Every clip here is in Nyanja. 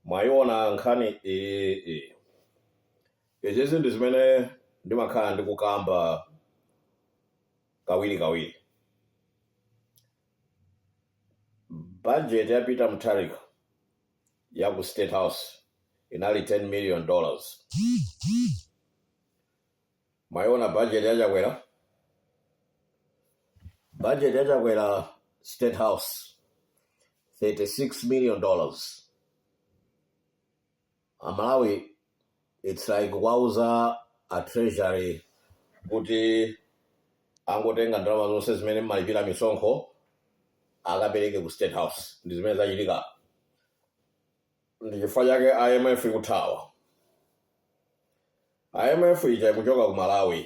mwayiona nkhani iyi izizi ndi zimene ndimakhala ndikukamba kawiri kawiri budget ya peter mutharika ya ku state house inali 10 million dollars Mwaiona budget ya Chakwera? Budget ya Chakwera State House 36 million dollars. Amalawi it's like kuwauza a treasury kuti angotenga ndalama zonse zimene mmalipira misonkho akapereke ku state house ndi zimene zachitika ndi chifukwa chake imf ikuthawa imf ija ikuchoka ku malawi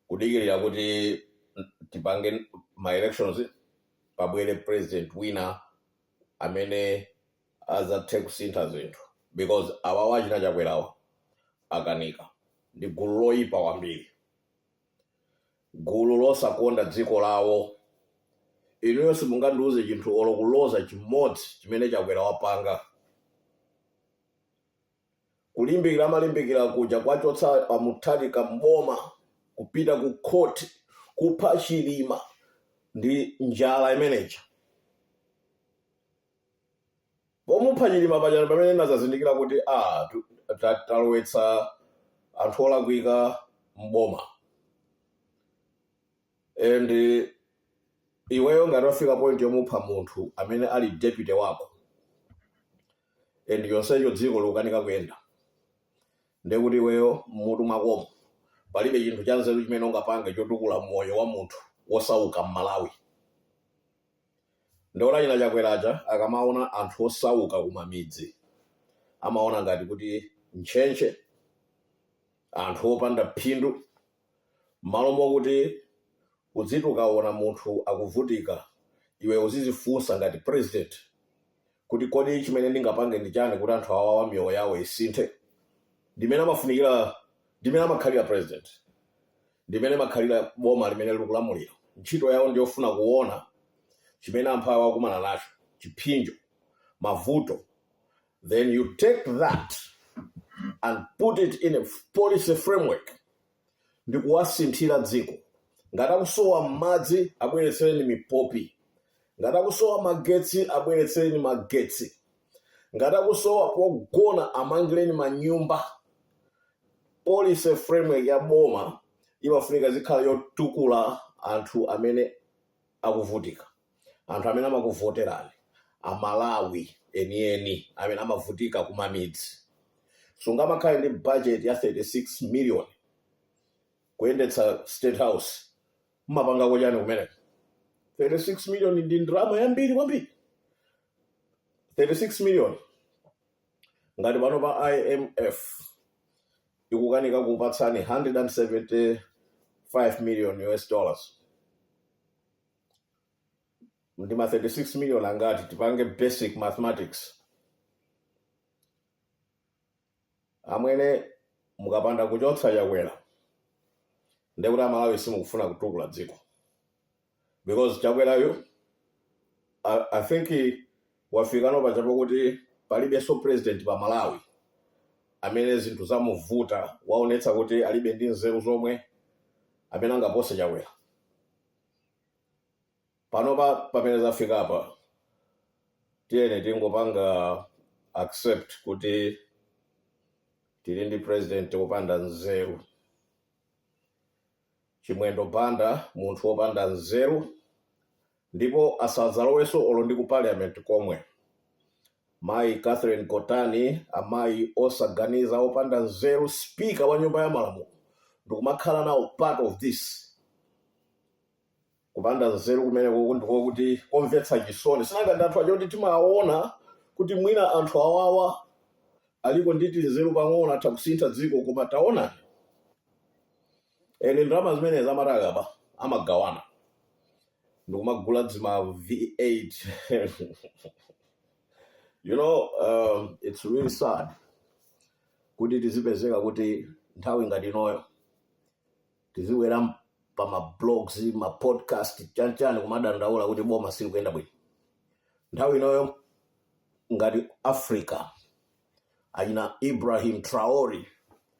kudikirira kuti tipange ma elections pabwere president wina amene azathe kusintha zinthu because awawa achina chakwerawa akanika ndi gulu loyipa kwambiri gulu losakonda dziko lawo. Inuyo simungandiuze chinthu olo kuloza chimodzi chimene Chakwera wapanga. Kulimbikira amalimbikira kuja kwachotsa a Mutharika m'boma, kupita ku court, kupha Chilima ndi njala imeneija. Pomupha chilima paja ndipamene ndinazazindikira kuti aah talowetsa anthu olakwika m'boma and iweyo ngati wafika point yomupha munthu amene ali deputy wako and chonsecho dziko likukanika kuyenda ndekuti iweyo m'mutu mwakomo palibe chinthu chanzeru chimene ungapange chotukula moyo wa munthu wosauka m'malawi Ndaona achina chakwera aja akamaona anthu osauka kumamidzi amaona ngati kuti ntchentche anthu opanda phindu mmalo mokuti uziti ukaona munthu akuvutika iwe uzizifunsa ngati president kuti kodi chimene ndingapange ndi chani kuti anthu awawa miyoyo yawo isinthe ndimene amafunikira ndimene amakhalira president ndimene amakhalira boma limene likulamulira ntchito yawo ndiyofuna kuona chimene anthu awa akumana nacho chipsinjo mavuto then you take that and put it in a policy framework ndikuwasinthira dziko. Ngati akusowa madzi abweretsereni mipopi. Ngati akusowa magetsi abweretsereni magetsi. Ngati akusowa pogona amangireni manyumba. Policy framework ya boma imafunika zikhala yotukula anthu amene akuvutika. anthu amene amakuvoterani amalawi enieni amene amavutika kumamidzi sungamakhale ndi budget ya 36 million kuyendetsa state house mmapangako chani kumeneko 36 million ndi ndalama yambiri kwambiri 36 million ngati pano pa imf ikukanika kupatsani 175 million us dollars ndi ma 36 million angati tipange basic mathematics amwene mukapanda kuchotsa chakwera ndekuti amalawi simukufuna kutukula dziko because chakwerayu I, i think he- wafikano paja pakuti palibenso president pa malawi amene zinthu zamuvuta waonetsa kuti alibe ndi nzeru zomwe amene angapose chakwera panopa pamene zafikapa tiyeni tingopanga accept kuti tili ndi president wopanda nzeru chimwendo banda munthu wopanda nzeru ndipo asadzalowenso olo ndi ku parliament komwe Mayi Catherine Gotani, amayi osaganiza, opanda nzeru, speaker wa nyumba ya malamulo ndikumakhala nawo part of this kupanda nzeru kumeneko ndiko kuti komvetsa chisoni sinanga ndi anthu aja oti timaona kuti mwina anthu awawa aliko ndi tinzeru pang'ono atha kusintha dziko koma taonani ande ndalama zimenezi amati akaba amagawana ndikumagula dzima v8 you know um, it's really sad kuti tizipezeka kuti nthawi ngati inoyo tizibwera pa mablogs mapodcast chanichani kumadandaula kuti boma silikuyenda bwino nthawi inoyo ngati africa achina ibrahim traore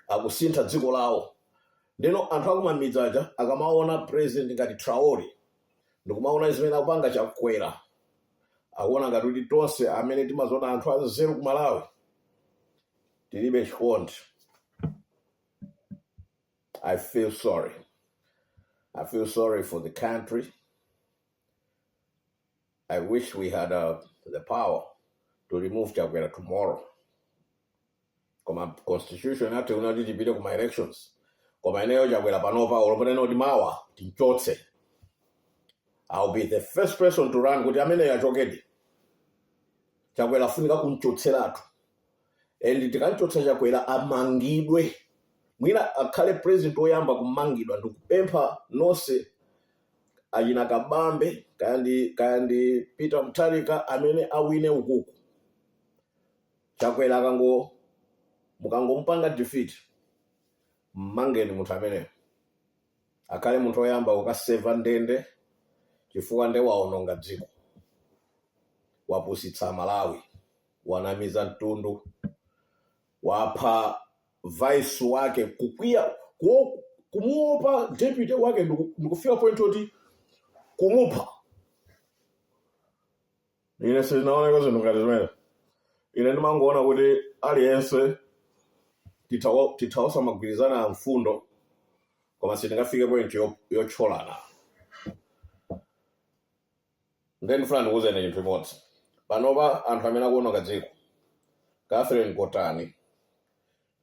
akusintha dziko lawo ndeno anthu akumamidzi aja akamaona president ngati traore ndikumaona zimene akupanga chakwera akuona ngati kuti tonse amene timadziona anthu anzeru ku malawi tilibe chikondi i feel sorry i feel sorry for the country I wish we had uh, the power to remove Chakwera tomorrow. Koma constitution yathu ikunati tipite kuma elections. Koma ineyo Chakwera panopa olo atanena kuti mawa tinchotse. I'll be the first person to run kuti ameneyo achokedi. Chakwera afunika kunchotseratu. And tikanchotsa Chakwera amangidwe. Mwina akhale president oyamba kumangidwa ndikupempha nonse achina kabambe kaya ndi kaya ndi peter mutharika amene awine ukuku chakwera akango mukangomupanga defeat mmangeni munthu ameneyo akhale munthu oyamba kukaseva ndende chifukwa nde waononga dziko wapusitsa malawi wanamiza mtundu wapha vice wake kukwiya kuo- kumuopa deputy wake ndiku- ndikufika point yoti kumupha ine sinaoneko zinthu ngati zimenezi ine ndimangoona kuti aliyense tithawa- titha osamagwirizana a mfundo koma sitingafike point yo- yotcholana Nde ndifuna ndikuuzeni chinthu chimodzi. Panopa anthu amene akuononga dziko, Catherine Gotani,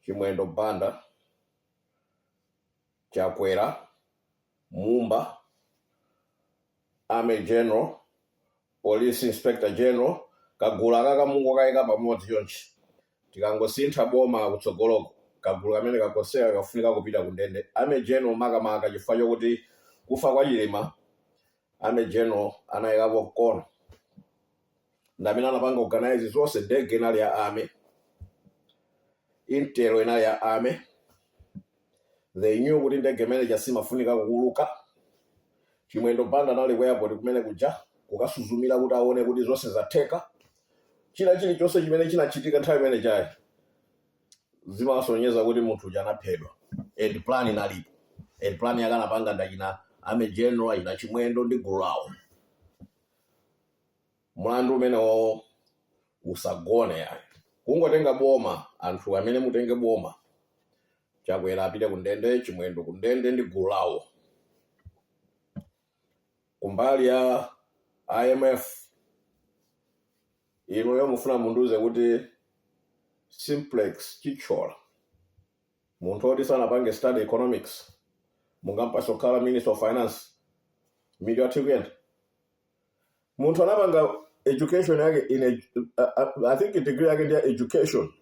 Chimwendo Banda, Chakwera, Mumba, Army General, Police Inspector General, kagulu akaka mungokayika pamodzi chonchi. Tikangosintha boma kutsogoloko, kagulu kameneka konseka kafunika kupita kundende. Army General makamaka chifukwa chokuti kufa kwa Chilima army general anayikapo mkono ndamene anapanga organize zonse ndege inali ya army intel inali ya army they knew kuti ndege imene ija simafunika kuuluka chimwendo banda anali ku airport kumene kuja kukasuzumira kuti aone kuti zonse zatheka china chilichonse chimene chinachitika nthawi imene ijayi zimasonyeza kuti munthu uja anaphedwa and plan inalipo and plan yake anapanga ndachina army general achina chimwendo ndi gulu lawo mlandu umenewo usagone yayi kungotenga boma anthu amene mutenge boma chakwera apite kundende chimwendo kundende ndi gulu lawo kumbali ya IMF inuyo mufuna mundiuze kuti simplex chithyola munthu oti sanapange study economics mungampatse kukhala minister of finance mitu yathu ikuyenda munthu anapanga education yake in a, uh, i think degree yake ndi ya education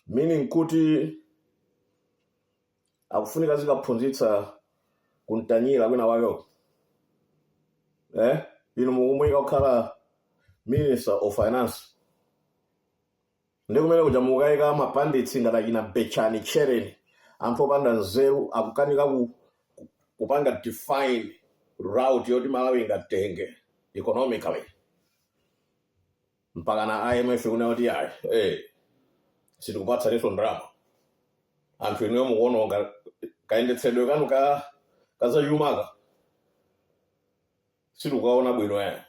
meaning kuti akufunika azikaphunzitsa ku ntanyira kwina kwakeko eh? inu mukumuyika kukhala minister of finance ndi kumene kuja mukayika ma pundits ngati achina betchani tchereni anthu opanda nzeru akukanika ku, ku, kupanga define route yoti malawi ingatenge economically mpakana IMF kunena kuti ayi eh, sitikupatsaninso ndalama anthu inuyo mukuononga kayendetsedwe kanu ka kazachumaka sitikukaona bwino ayi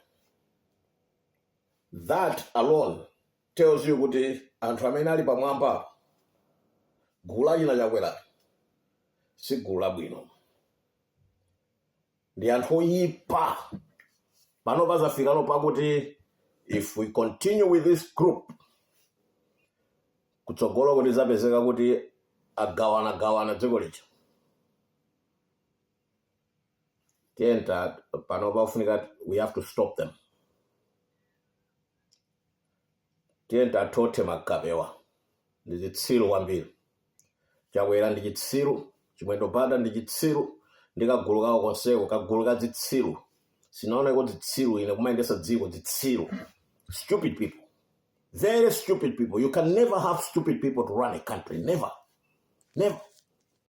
that alone tells you kuti anthu amene ali pamwamba pa gulu la achina Chakwera si gulu labwino ndi anthu oyipa pano pazafikalo pakuti if we continue with this group kutsogoloku tizapezeka kuti agawana gawana dziko lija ndiye nde pano pafunika we have to stop them tiyeni tathothe magapewa ndi zitsiru kwambiri Chakwera ndi chitsiru Chimwendo Banda ndi chitsiru ndi kagulu kawo konseko kagulu ka zitsiru sindinaoneko zitsiru ine kumayendesa dziko zitsiru stupid people very stupid people you can never have stupid people to run a country never never